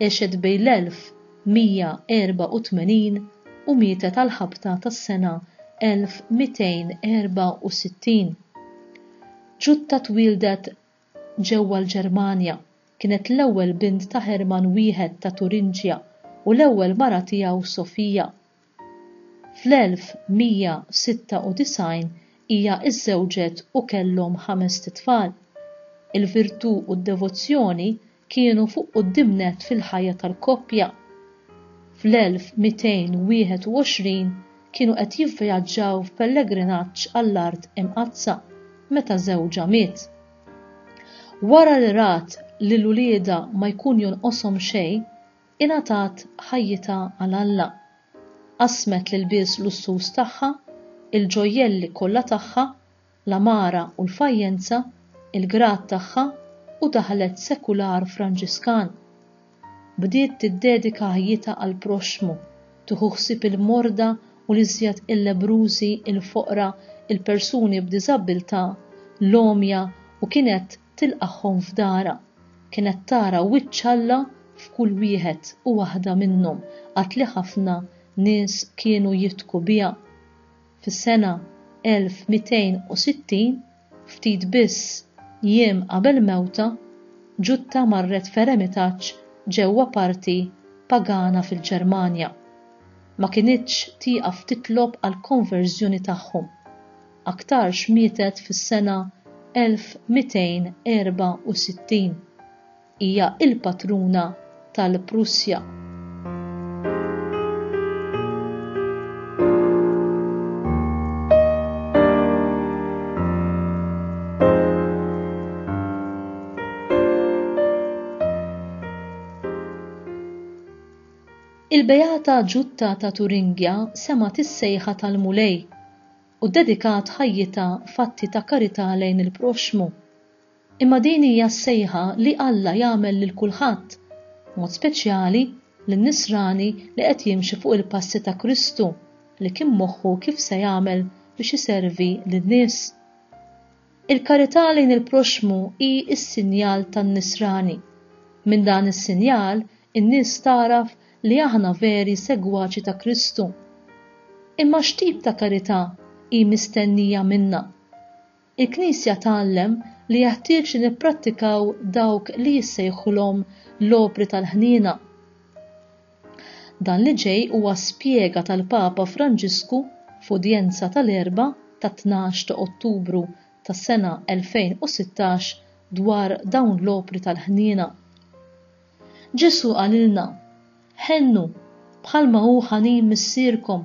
Għexet bejn l-1184 u mietet għall-ħabta tas-sena 1264. Jutta twieldet ġewwa l-Ġermanja, kienet l-ewwel bint ta' Hermann I ta' Turinġja u l-ewwel mara tiegħu Sofija. Fl-1196 hija żżewġet u kellhom ħamest itfal. Il-virtù u d-devozzjoni kienu fuq quddiem nett fil-ħajja tal-koppja. Fl-1221 kienu qed jivvjaġġaw f'pellegrinaġġ għall-Art Imqaddsa meta żewġha miet. Wara li rat lil uliedha ma jkun jonqoshom xejn, Ingħatat ħajjitha għal Alla. Qasmet l-ilbies lussuż tagħha, il-ġojjelli kollha tagħha, l-għamara u l-fajjenza, il-grad tagħha u daħlet sekular Franġiskan. Bdiet tiddedika ħajjitha għall-proxxmu, tieħu ħsieb il-morda u l-iżjed il-lebrużi, il-foqra, il-persuni b'diżabbiltà, l-għomja u kienet tilqagħhom f'darha. Kienet tara wiċċ Alla f'kull wieħed u waħda minnhom għad li ħafna nies kienu jidhku biha. Fis-sena 1260, ftit biss jiem qabel mewtha, Ġutta marret f'eremitaġġ ġewwa parti pagana fil-Ġermanja. Ma kinitx tieqaf titlob għall-konverżjoni tagħhom. aktarx mietet fis-sena 1264. Hija l-patruna tal-Prussja. Il-Beata Ġutta ta' Turingja semgħet is-sejħa tal-Mulej u ddedikat ħajjitha f'atti ta' karità lejn il-proxxmu. Imma din hija s-sejħa li Alla jagħmel lil kulħadd, b'mod speċjali lin-nisrani li qed jimxi fuq il-passi ta' Kristu li kien moħħu kif se jagħmel biex iservi lin-nies. Il-karità lejn il-proxxmu hi s-sinjal tan-Nisrani. Minn dan is-sinjal, in-nies tagħraf li aħna veri segwaċi ta' Kristu. Imma x'tip ta' karità hi mistennija minna? Il-Knisja tgħallem li jeħtieġ li nipprattikaw dawk li jissejħulhom l-opri tal-ħniena. Dan li ġej huwa spjega tal-Papa Franġisku f'udjenza tal-Erbgħa tat-tnax ta' Ottubru tas-sena 2016 dwar dawn l-opri tal-ħniena. Ġesù qalilna, Ħennu, bħalma hu ħanin Missierkom,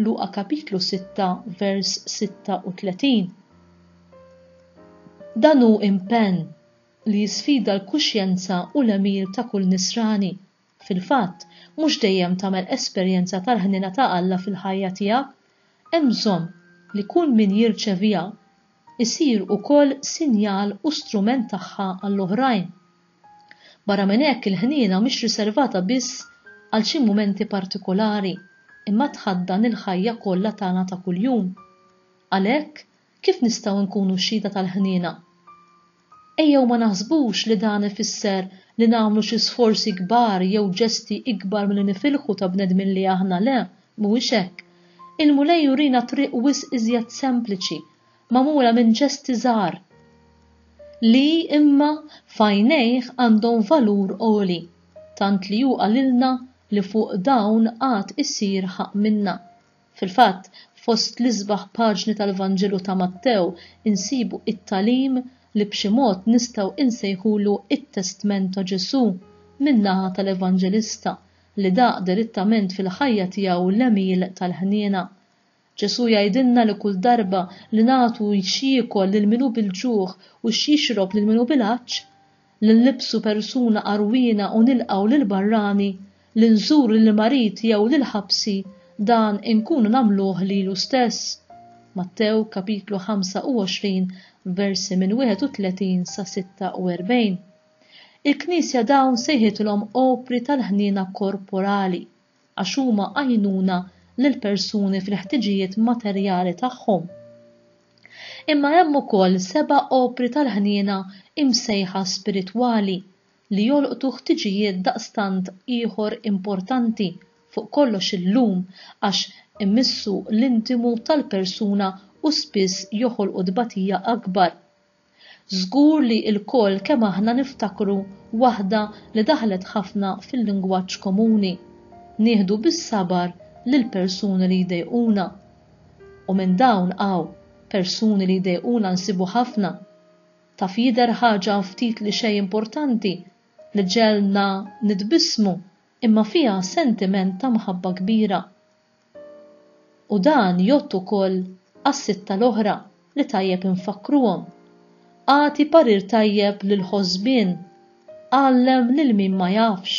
Luqa kapitlu 6 vers 36. Dan hu impenn li jisfida l-kuxjenza u l-għemil ta' kull Nisrani. Fil-fatt, mhux dejjem tagħmel esperjenza tal-ħniena ta' Alla fil-ħajja tiegħek. Hemm bżonn li kull min jirċeviha jsir ukoll sinjal u strument tagħha għall-oħrajn. Barra minn hekk il-ħniena mhix riservata biss għal xi mumenti partikolari imma tħaddan il-ħajja kollha tagħna ta' kuljum. Għalhekk, Kif nistgħu nkunu xhieda tal-ħniena? Ejjew ma naħsbux li dan ifisser li nagħmlu xi sforzi kbar jew ġesti ikbar milli nifilħu ta' bnedmin li aħna, le, mhuwiex hekk. Il-Mulej jurina t-triq wisq iżjed sempliċi, magħmula minn ġesti żgħar, li, imma, f'għajnejh għandhom valur għoli, tant li hu qalilna li fuq dawn għad isir ħaqq minna. Fil-fatt, fost l-isbaħ paġni tal-Vanġelu ta' Mattew insibu t-tagħlim li b'xi mod nistgħu insejħulu t-testment ta' Ġesù min-naħa tal-Evanġelista li daq dirittament fil-ħajja tiegħu l-għemil tal-ħniena. Ġesù jgħidilna li kull darba li nagħtu x'jiekol lil min hu bil-ġuħ u x'jixrob lil min hu bil-għatx, li nlibbsu persuna għarwiena u nilqgħu lill-barrani, li nżuru lil mariti jew lil ħabsi, dan inkunu nagħmluh lilu stess. Mattew kapitlu 25 versi minn 31 sa 46. Il-Knisja dawn sejħitilhom opri tal-ħniena korporali. għax huma għajnuna lill-persuni fil-ħtiġijiet materjali tagħhom. Imma hemm ukoll seba' opri tal-ħniena imsejħa spiritwali li jolqtu ħtiġijiet daqstant ieħor importanti fuq kollox illum għax imissu l-intimu tal-persuna u spiss joħolqu tbatija akbar. Żgur li lkoll kemm aħna niftakru waħda li daħlet ħafna fil-lingwaġġ komuni, Nieħdu bis-sabar lill-persuni li jdejquna. U minn dawn hawn, persuni li jdejquna nsibu ħafna. Taf jidher ħaġa ftit li xejn importanti li ġegħlna nitbissmu imma fiha sentiment ta' mħabba kbira U dan jgħodd ukoll għas-sitta l-oħra li tajjeb infakkruhom, Agħti parir tajjeb lill-ħosbien, għallem lil min ma jafx,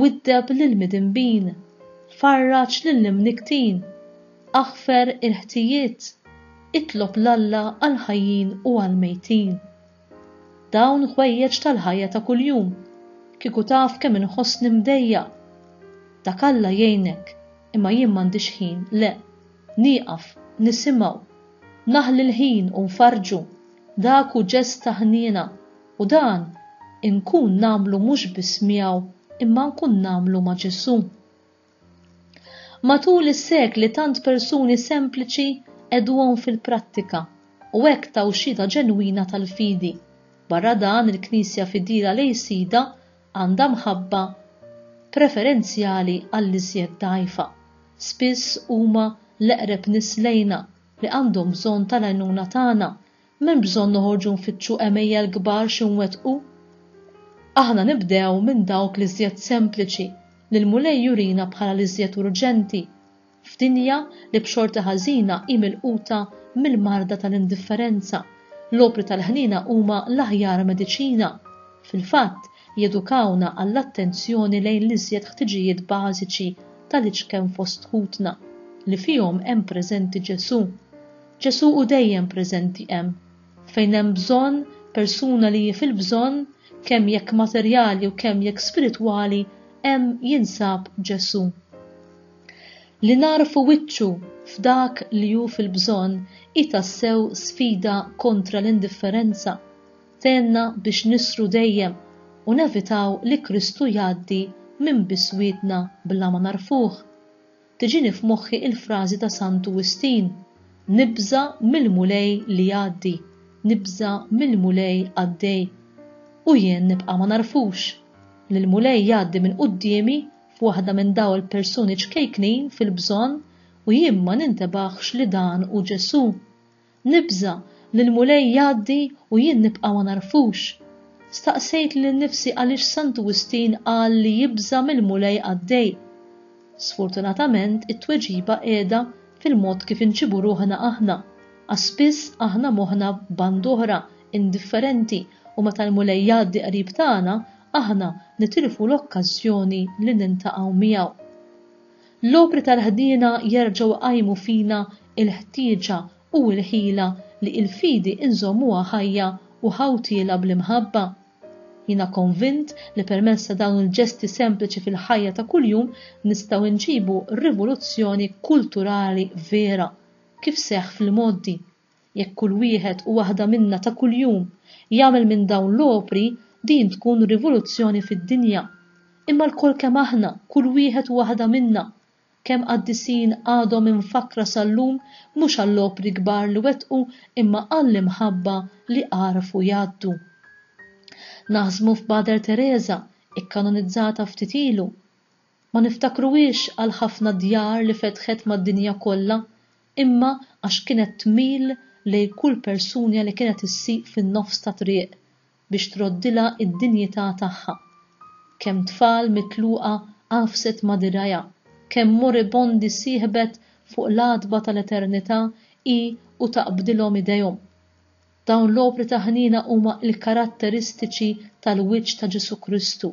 widdeb lill-midinbin, farraġ lill-imnikktin, aħfer il-ħtijiet, itlob 'l Alla għall-ħajjin u għall-mejtin. Dawn ħwejjeġ tal-ħajja ta' kuljum. Kieku taf kemm inħossni mdejjaq! Dak Alla jgħinek, imma jien m'għandix ħin, le. Nieqaf, nisimgħu. Naħli l-ħin u nfarrġu. Dak hu ġest ta' ħniena. U dan inkun nagħmlu mhux biss miegħu imma nkun nagħmlu ma' Ġesù. Matul is-sekli tant persuni sempliċi qegħduhom fil-prattika u hekk taw xhieda ġenwina tal-fidi. Barra dan il-Knisja fidila lejn Sidha għandha mħabba preferenzjali għall-iżjed dgħajfa. Spiss huma l-eqreb nies lejna li għandhom bżonn tal-għajnuna tagħna M'hemm bżonn noħorġu nfittxu għemejjel kbar xi nwettqu. Aħna nibdew minn dawk l-iżjed sempliċi li l-Mulej jurina bħala l-iżjed urġenti, f'dinja li b'xorti ħażina hi milquta mill-marda tal-indifferenza, l-opri tal-ħniena huma l-aħjar mediċina, fil-fatt, jedukawna għall-attenzjoni lejn l-iżjed ħtiġijiet bażiċi tal-iċken fost ħutna, li fihom hemm preżenti Ġesù. Ġesù hu dejjem preżenti hemm. Fejn hemm bżonn, persuna li hi fil-bżonn, kemm jekk materjali u kemm jekk spiritwali, hemm jinsab Ġesù. Li nagħrfu wiċċu f'dak li hu fil-bżonn hi tassew sfida kontra l-indifferenza, tgħinna biex nisru dejjem u nevitaw li Kristu jgħaddi minn biswietna bla ma nagħrfuh. Tiġini f'moħħi il-frażi ta' Santu Wistin, Nibża' mill-Mulej li jgħaddi, nibża' mill-Mulej qaddej. U jien nibqa' ma nagħrfux, li l-Mulej jgħaddi minn quddiemi f'waħda minn daw il-persuni ċkejknin fil-bżonn u jien ma nintebaħx li dan hu Ġesù. Nibża' li l-Mulej jgħaddi u jien nibqa' ma nagħrfux? Staqsejt lil nifsi għaliex Santu Wistin qal li jibża' mill-Mulej qaddej. Sfortunatament it-tweġiba qiegħda fil-mod kif inġibu ruħna aħna, għax spiss aħna moħħna band oħra, indifferenti u meta l-Mulej jgħaddi qrib tagħna aħna nitilfu l-okkażjoni li niltaqgħu miegħu. L-opri tal-ħniena jerġgħu jqajmu fina l-ħtieġa u l-ħila li l-fidi nżommuha ħajja u ħawtiela bl-imħabba. Jiena konvint li permezz ta' dawn il-ġesti sempliċi fil-ħajja ta' kuljum nistgħu nġibu rivoluzzjoni kulturali vera, kif seħħ fl-imgħoddi. Jekk kull wieħed u waħda minna ta' kuljum jagħmel minn dawn l-opri, din tkun rivoluzzjoni fid-dinja. Imma lkoll kemm aħna, kull wieħed u waħda minna, kemm qaddisin għadhom imfakkra sal-lum mhux għall-opri kbar li wettqu imma għall-imħabba li għarfu jgħaddu. Naħsbu f'Mother Teresa, ikkanonizzata ftit ilu. Ma niftakruhiex għall-ħafna djar li fetħet mad-dinja kollha, imma għax kienet tmil lejn kull persunja li kienet issieq fin-nofs ta' triq biex troddilha d-dinjità tagħha. Kemm tfal mitluqa għafset ma' dirgħajha, kemm moribondi sieħbet fuq l-għatba tal-eternità hi u taqbdilhom idejhom. Dawn l-opri ta' ħniena huma l-karatteristiċi tal-wiċċ ta' Ġesù Kristu,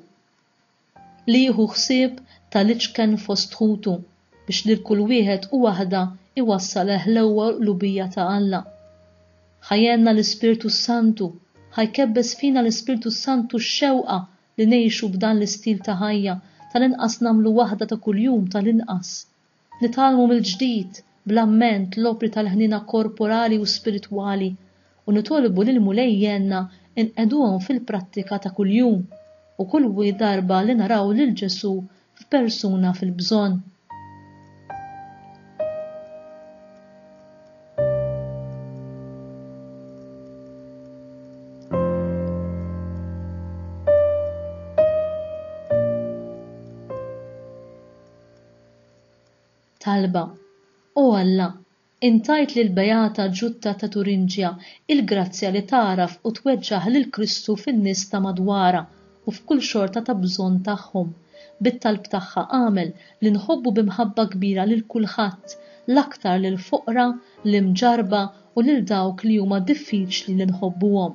li jieħu ħsieb tal-iċken fost ħutu, biex lil kull wieħed u waħda jwassal għall-ħlewwa u l-qlubija ta' Alla. Ħa jgħinna l-Ispirtu s-Santu, ħa jkebbes fina l-Ispirtu s-Santu x-xewqa li ngħixu b'dan l-istil ta' ħajja, tal-inqas nagħmlu waħda ta' kuljum tal-inqas. Nitgħallmu mill-ġdid, bl-amment, l-opri tal-ħniena korporali u spiritwali u nitolbu lill-Mulej jgħinna nqegħduhom fil-prattika ta' kuljum u kull darba li naraw lil Ġesù f'persuna fil-bżonn. Talba, O Alla, int għidt lill-beata Ġutta ta' Turinġja il-grazzja li tagħraf u tweġġaħ lil Kristu fin-nies ta' madwarha u f'kull xorta ta' bżonn tagħhom. Bit-talb tagħha agħmel li nħobbu bi mħabba kbira lil kulħadd, l-aktar lill-foqra, l-imġarrba u lil dawk li huma diffiċli li nħobbuhom.